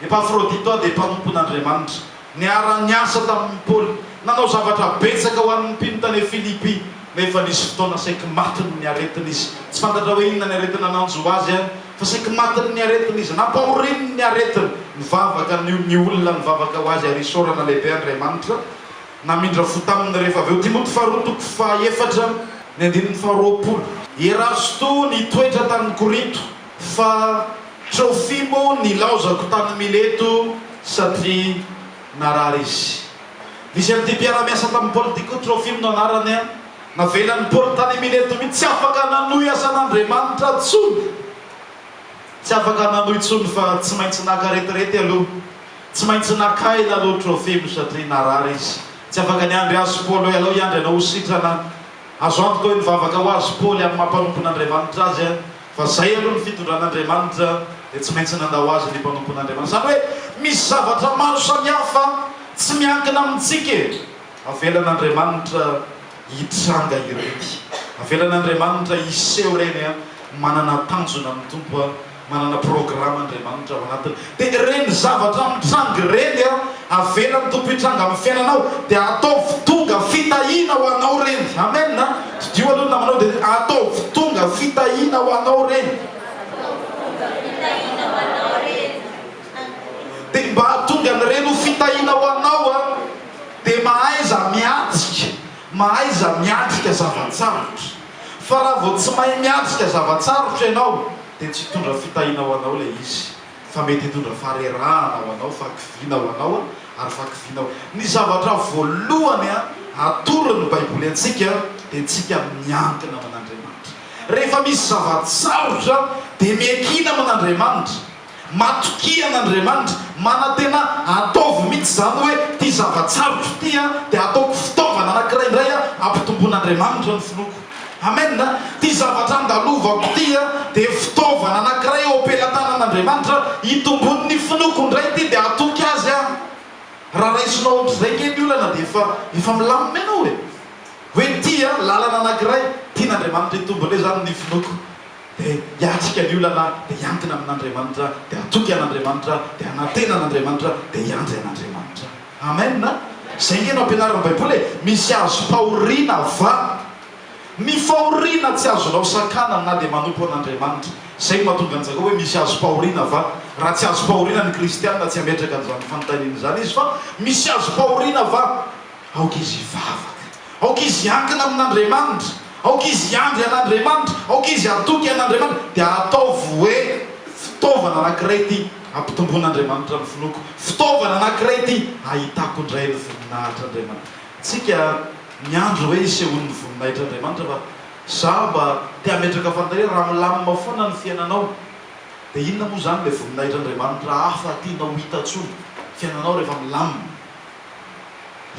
Epafrodito aho dia mpanompon'Andriamanitra. Niara-niasa tamin'i Paoly, nanao zavatra betsaka ho an'ny mpino tany Filipy, nefa nisy fotoana saiky maty noho ny aretina izy. Tsy fantatra hoe inona ny aretina nanjo azy. Fa saiky matiny ny aretiny izy. Nampahorininy ny aretiny. Nivavaka ny ny olona nivavaka ho azy ary isaorana lehibe Andriamanitra. Namindra fo taminy rehefa avy eo. Timoty faharoa toko fahaefatra ny andininy faharoapolo. Erasto nitoetra tany Korinto, fa Trofimo nilaozako tany Mileto satria narary izy. Nisy an'ity mpiara-miasa tamin'i Paoly ity koa, Trofimo no anarany. Navelan'i Paoly tany Mileto mihitsy tsy afaka nanohy asan'Andriamanitra intsony. Tsy afaka nanohy intsony fa tsy maintsy naka retirety aloha. Tsy maintsy naka aina aloha Trofimo satria narary izy. Tsy afaka niandry azy Paoly hoe, Alao hiandry anao ho sitrana aho. Azo antoka hoe nivavaka ho azy Paoly amin'ny maha mpanompon'Andriamanitra azy fa izay aloha ny fitondran'Andriamanitra dia tsy maintsy nandao azy ny mpanompon'Andriamanitra. Izany hoe misy zavatra maro samihafa tsy miankina amintsika e! Avelan'Andriamanitra hitranga ireny. Avelan'Andriamanitra hiseho ireny an! Manana tanjona ny Tompo an! Manana programa Andriamanitra ao anatiny. Dia ireny zavatra mitranga ireny an! Avelan'ny Tompo hitranga amin'ny fiainanao dia ataovy tonga fitahiana ho anao ireny. Amen an! Didio aloha ny namanao dia hoe, Ataovy tonga fitahiana ho anao ireny. Ataovy tonga fitahiana ho anao ireny. Dia mba hahatonga an'ireny ho fitahiana ho anao an! dia mahaiza miatrika, mahaiza miatrika zava-tsarotra. Fa raha vao tsy mahay miatrika zava-tsarotra ianao dia tsy hitondra fitahiana ho anao ilay izy fa mety hitondra farerahana ho anao, fahakiviana ho anao ary fahakiviana ho. Ny zavatra voalohany atoron'ny Baiboly antsika dia antsika miankina amin'Andriamanitra. Rehefa misy zava-tsarotra dia miankina amin'Andriamanitra. Matokia an'Andriamanitra, manantena ataovy mihitsy izany hoe ity zava-tsarotra ity dia ataoko fitaovana anankiray indray hampitomboin'Andriamanitra ny finoako. Amen! Ity zavatra andalovako ity dia fitaovana anankiray eo am-pelatanan'Andriamanitra hitomboin'ny finoako indray ity dia hatoky Azy aho. Raha raisinao ohatr'izay ange ny olana dia efa efa milamina ianao e! Hoe ity lalana anankiray tian'Andriamanitra hitombo indray izany ny finoako. dia hiatrika ny olana, dia hiankina amin'Andriamanitra, dia hatoky an'Andriamanitra, dia hanantena an'Andriamanitra, dia hiandry an'Andriamanitra. Amen! Izay ange no ampianarin'ny Baiboly e! Misy azo fahoriana va? Ny fahoriana tsy azonao sakanana na dia manompo an'Andriamanitra. Izay no mahatonga an'i Jakoba hoe misy azo fahoriana va? Raha tsy azo fahoriana ny kristiana tsy hametraka an'izany fanontaniana izany izy fa misy azo fahoriana va? Aoka izy hivavaka. Aoka izy hiankina amin'Andriamanitra. Aoka izy hiandry an'Andriamanitra. Aoka izy hatoky an'Andriamanitra. Dia ataovy hoe fitaovana anankiray ity hampitomboan'Andriamanitra ny finoako. Fitaovana anankiray ity hahitako indray ny voninahitr'Andriamanitra. Tsika miandry hoe hisehoan'ny voninahitr'Andriamanitra fa za mba te hametraka fanontaniana, raha milamina foana ny fiainanao dia inona moa izany ilay voninahitr'Andriamanitra hafa tianao ho hita tsony fiainanao rehefa milamina?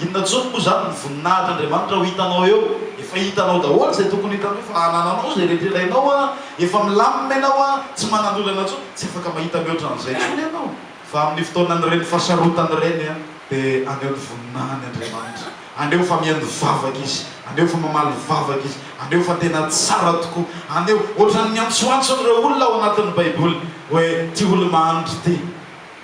Inona intsony moa izany ny voninahitr' Andriamanitra ho hitanao eo? Efa hitanao daholo izay tokony hitanao, efa anananao izay rehetra ilainao an! Efa milamina ianao an! Tsy manan-dolana intsony, tsy afaka mahita mihoatra an'izay intsony ianao! Fa amin'ny fotoanan'ireny fahasarotana ireny an, dia aneho ny voninahiny Andriamanitra, aneho fa mihaino vavaka Izy, aneho fa mamaly vavaka Izy, aneho fa tena tsara tokoa, aneho, ohatran'ny niantsoantson'ireo olona ao anatin'ny Baiboly hoe, Ty olo-mahanindry ty.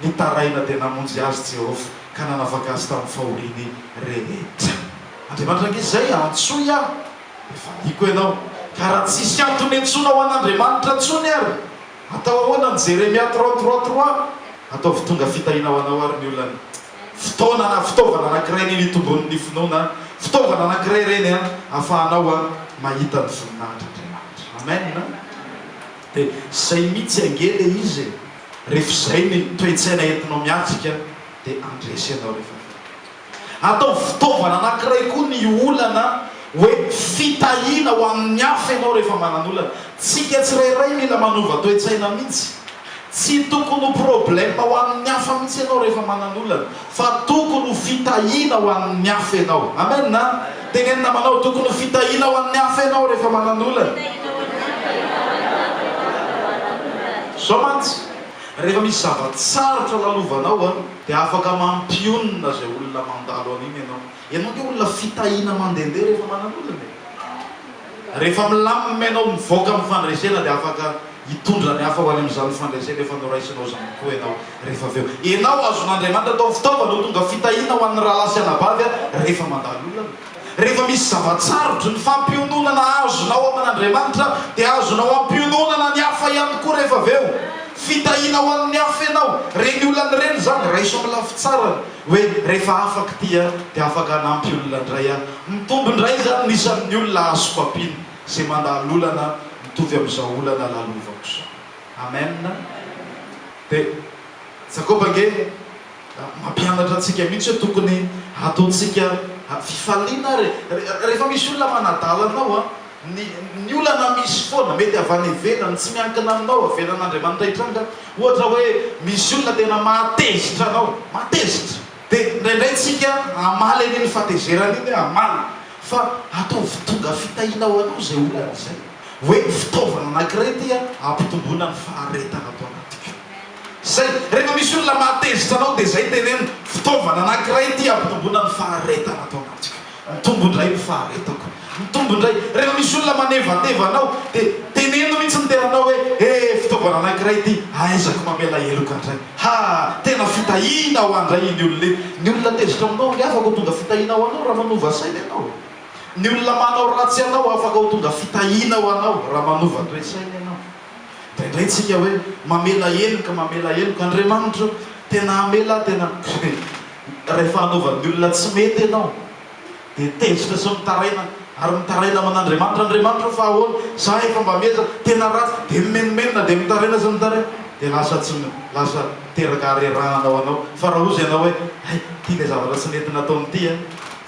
Nitaraina dia namonjy azy Jehovah, ka nanavaka azy tamin'ny fahoriany rehetra. Andriamanitra ange izay, Antsoy aho, dia valiako ianao. Ka raha tsisy antony iantsoana ho an'Andriamanitra intsony àry, atao ahoana ny Jeremia trois trois trois? Ataovy tonga fitahiana ho anao àry ny olany. Fotoana na fitaovana anankiray anie ny itomboan'ny finoana an! Fitaovana anankiray ireny ahafahanao mahita ny voninahitr'Andriamanitra. Amen! Dia izay mihitsy ange ilay izy e! Rehefa izay ny toe-tsaina entinao miatrika dia handresy ianao rehefa avy eo. Ataovy fitaovana anankiray koa ny olana hoe fitahiana ho an'ny hafa ianao rehefa manana olana. Tsika tsirairay mila manova toe-tsaina mihitsy. Tsy tokony ho problème ho an'ny hafa mihitsy ianao rehefa manana olana. Fa tokony ho fitahiana ho an'ny hafa ianao. Amen a! Teneno namanao, tokony ho fitahiana ho an'ny hafa ianao rehefa manan'olana. Zao mantsy, rehefa misy zava-tsarotra lalovanao dia afaka mampionona izay olona mandalo an'iny ianao. Ianao nge olona fitahina mandehandeha rehefa manan'olana e! Rehefa milamina ianao mivoaka amin'ny fandresena dia afaka hitondra ny hafa ho any amin'izany fandresena efa noraisinao izany koa ianao rehefa avy eo. Ianao azon'Andriamanitra atao fitaovana ho tonga fitahina ho an'ny rahalahy sy anabavy aho rehefa mandalo olana. Rehefa misy zava-tsarotry ny fampiononana azonao amin'Andriamanitra dia azonao ampiononana ny hafa ihany koa rehefa avy eo. Fitahina ho an'ny hafa ianao. Ireny olana ireny izany raiso amin'ny lafy tsarany. hoe rehefa afaka ity aho dia afaka hanampy olona indray aho. Mitombo indray izany ny isan'ny olona azoko ampiana izay mandalo olana mitovy amin'izao olana lalovako izao. Amen. Dia Jakoba ange mampianatra antsika mihitsy hoe tokony hataontsika fifaliana ary rehefa misy olona manadala anao. Ny, ny olana misy foana, mety avy any ivelany, tsy miankina aminao, avelan'Andriamanitra hitranga. Ohatra hoe, misy olona tena mahatezitra anao, mahatezitra. Dia indraindray tsika hamaly an'iny fahatezerany iny, hamaly. Fa ataovy tonga fitahiana ho anao izay olana izay. Hoe fitaovana anankiray ity an, hampitomboana ny faharetana ato anatiko. Izay. Rehefa misy olona mahatezitra anao, dia izay teneno, fitaovana anankiray ity hampitomboana ny faharetana ato anatiko. Mitombo indray ny faharetako. Mitombo indray. Rehefa misy olona manevateva anao, dia teneno mihitsy ny tenanao hoe, He, fitaovana anankiray ity ahaizako mamela heloka indray. Ha, tena fitahiana ho ahy indray iny olona iny. Ny olona tezitra aminao ry havako tonga fitahiana ho anao raha manova saina ianao. Ny olona manao ratsy anao afaka ho tonga fitahiana ho anao raha manova toe-tsaina ianao. Indraindray tsika hoe mamela heloka mamela heloka Andriamanitra o! Tena hamela tena Rehefa hanaova ny olona tsy mety ianao dia tezitra sy mitaraina ary mitaraina aman Andriamanitra Andriamanitra o fa ahoana za efa mba miezaka tena ratsy dia mimenomenona dia mitaraina sy mitaraina dia lasa tsy lasa teraka harerahana ho anao fa raha ozy ianao hoe hay ity ilay zavatra tsy nety nataony ity an!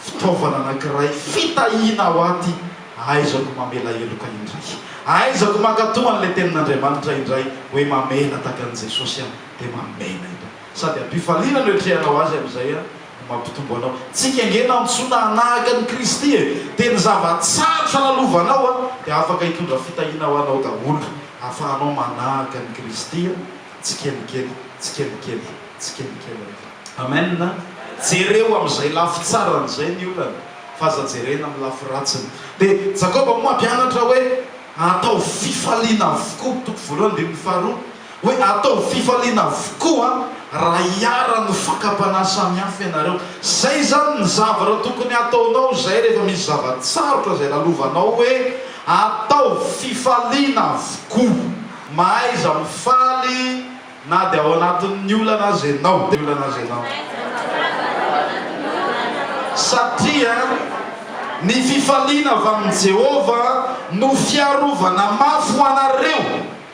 Fitaovana anakiray fitahiana ho ahy ity Aiza no mamela heloka indray? Aiza no mankatoa an'ilay tenin'Andriamanitra indray hoe mamela tahaka an'i Jesosy aho dia mamela eto. Sady am-pifaliana no etrehanao Azy amin'izay aho no mampitombo anao. Tsy kengena aho intsona hanahaka an'i Kristy e! Dia ny zava-tsarotra lalovanao aho dia afaka hitondra fitahiana ho anao daholo ahafahanao manahaka an'i Kristy tsikelikely, tsikelikely, tsikelikely. Amen! Jereo amin'izay lafy tsarany izay ny olana. fa aza jerena amin'ny lafy ratsiny. Dia Jakoba moa hampianatra hoe, Ataovy fifaliana avokoa, toko voalohany andininy faharoa, hoe ataovy fifaliana avokoa raha hiharan'ny fakam-panahy samihafa ianareo. Izay izany ny zavatra tokony hataonao izay rehefa misy zava-tsarotra izay lalovanao hoe, Ataovy fifaliana avokoa. Mahaiza mifaly. Na dia ao anatin'ny olana aza ianao, dia olana aza ianao. Satria ny fifaliana avy amin'i Jehovah no fiarovana mafy ho anareo.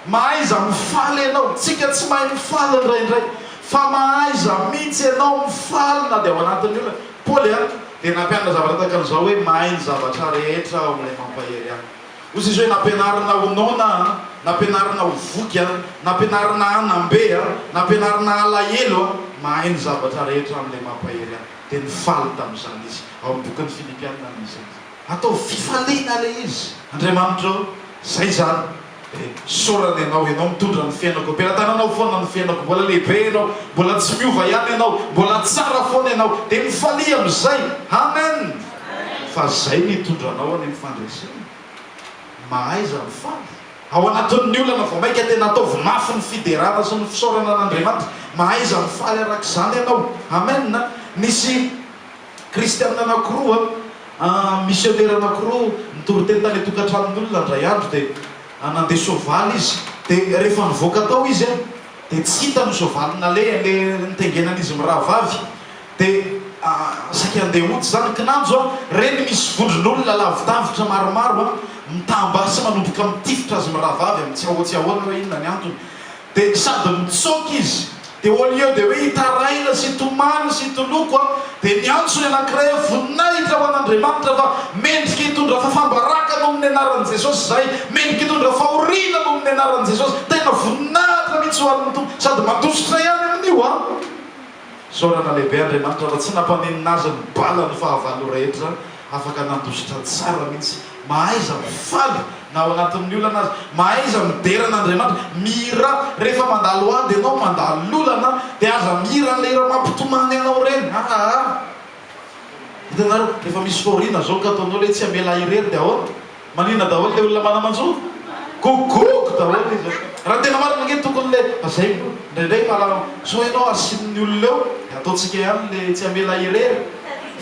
Mahaiza mifaly ianao. Isika tsy mahay mifaly indraindray, fa mahaiza mihitsy ianao mifaly na dia ao anatin'ny olana. Paoly dia nampianatra zavatra tahaka an'izao hoe, Mahay ny zavatra rehetra ao amin'ilay mampahery ahy. Ozy izy hoe nampianarina ho noana aho, nampianarina ho voky aho, nampianarina hanam-be aho, nampianarina halahelo aho, mahay ny zavatra rehetra amin'ilay mampahery ahy. Dia nifaly tamin'izany izy. Ao amin'ny bokin'ny Filipiana no misy an'izany. Ataovy fifaliana ilay izy. Andriamanitra o, izay izany dia isaorana Ianao, Ianao mitondra ny fiainako, am-pelatananao foana ny fiainako, mbola lehibe Ianao, mbola tsy miova ihany Ianao, mbola tsara foana Ianao, dia mifalia amin'izay. Amen! Fa zay no hitondra anao any amin'ny fandresena. Mahaiza mifaly. Ao anatin'ny olana vao maika tena ataovy mafy ny fiderana sy ny fisaorana an'Andriamanitra. Mahaiza mifaly arak'izany ianao. Amen. Nisy Kristiana anankiroa, misionera anankiroa nitory teny tany an-tokantranon'olona indray andro dia nandeha soavaly izy. Dia rehefa nivoaka tao izy dia tsy hitany ny soavaly nalehany, ilay nitengenan'izy mirahavavy. De ah saika andeha hody izany kinanjo a! Reny misy vondron'olona lavidavitra maromaro a! Mitam-ba sy manomboka mitifitra azy mirahavavy amin'ny tsy ahoa tsy ahoana hoe inona ny antony. De sady mitsoaka izy, de au lieu de hoe hitaraina sy hitomany sy hitoloko a! de miantso ny anankiray hoe voninahitra ho an'Andriamanitra fa mendrika hitondra fafambaraka noho ny anaran'i Jesosy izahay! Mendrika hitondra fahoriana noho ny anaran'i Jesosy! Tena voninahitra mihitsy ho an'ny Tompo! Sady mandositra ihany amin'io a! Isaorana lehibe Andriamanitra fa tsy nampaninona azy ny bala ny fahavalo rehetra, afaka nandositra tsara mihitsy, mahaiza mifaly na ao anatin'ny olana aza, mahaiza midera an'Andriamanitra, mihirà, rehefa mandalo ady ianao, mandalo olana dia aza mihira an'ilay hira mampitomany anao ireny, aa! Hitanareo, rehefa misy fahoriana zao ka ataonao ilay tsy hamela ahy irery dia ahoana? Maninona daholo le olona mana manjo? Gogogo daholo izy an! Raha tena marina ange tokony le lazainy koa indraindray fa raha sao ianao asian'ny olona eo de ataontsika ihany le tsy hamela irery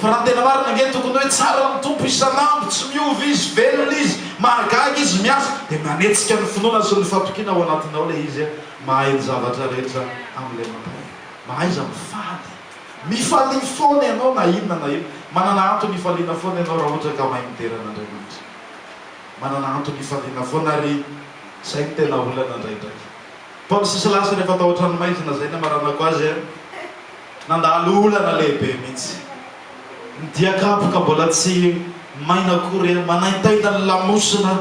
fa raha ny tena marina ange tokony hoe tsara ny Tompo isan'andro tsy miova izy velona izy mahagaga izy miasa de manetsika ny finoana sy ny fatokiana ao anatinao le izy an! mahay ny zavatra rehetra amin'ilay mampahery mahaiza mifady Mifalia foana ianao na inona na inona. Manana antony hifaliana foana ianao raha ohatra ka mahay midera an'Andriamanitra. Manana antony hifaliana foana ary izay no tena olana indraindraika. Paoly sy Silasy rehefa tao an-tranomaizina izay ny amaranako azy an, nandalo olana lehibe mihitsy. Ny dia kapoka mbola tsy maina akory an, manaintaina ny lamosina.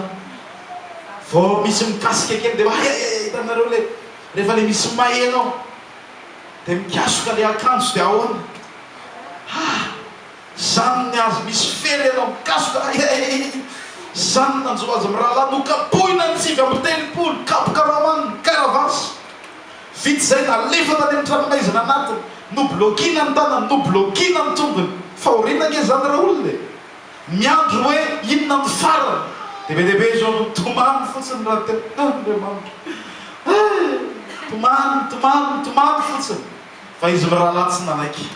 Vao misy mikasika kely dia ayayay hitanareo ilay rehefa ilay misy may ianao. Dia mikasoka le akanjo dia ahoana? Haa! Zany ny azy misy fery enao mikasoka a eeii! Zany ny nanjo azy mirahalahy nokapohina ny sivy amby telopolo kapoka raman ny karavasy! Vita izay nalefa tany amin'ny tranomaizina anatiny, noblokiana ny tanany, noblokiana ny tongony, fahoriana ange zany re olona e! Miandry ny hoe inona no farany. Dia be dia be izao no tomany fotsiny raha te Andriamanitra eh! Tomany, tomany, tomany fotsiny fa izy mirahalahy tsy nanaiky.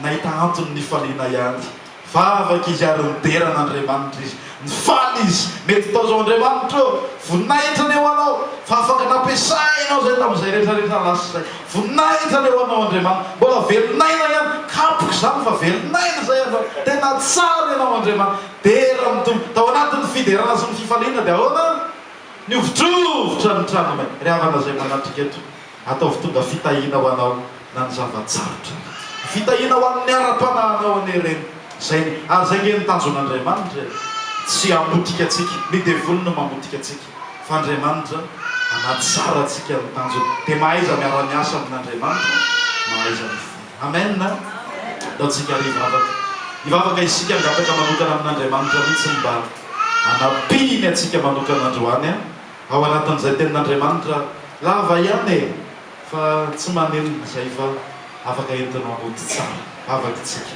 Nahita antony nifaliana ihany. Vavaka izy ary nidera an'Andriamanitra izy. Nifaly izy. Mety tao izao Andriamanitra ô! Voninahitra ny ho anao fa afaka nampiasainao izay tamin'izay rehetra rehetra lasa izay. Voninahitra le ho anao Andriamanitra. Mbola velon'aina ihany. Kapoka izany fa velon'aina izay ianao. Tena tsara ianao Andriamanitra. Dera amin'ny Tompo. Tao anatin'ny fiderana sy ny fifaliana dia ahoana? Nihovotrovotra ny tranonay. Ry havana izay manatrika eto, ataovy tonga fitahiana ho anao na ny zava-tsarotra aza. Fitahiana ho an'ny ara-panahinao anie ireny. Izay ny, ary izay ange ny tanjon'Andriamanitra e. Tsy hamotika antsika. Ny devoly no mamotika antsika. fa Andriamanitra anaty tsara antsika no tanjony dia mahaiza miara miasa amin Andriamanitra mahaiza mivory Amen Ataontsika ary hivavaka hivavaka isika hangataka manokana amin Andriamanitra mihitsy mba hanampiany antsika manokana androany an ao anatin izay tenin Andriamanitra lava ihany e fa tsy maninona izay fa afaka entinao mody tsara vavaka isika.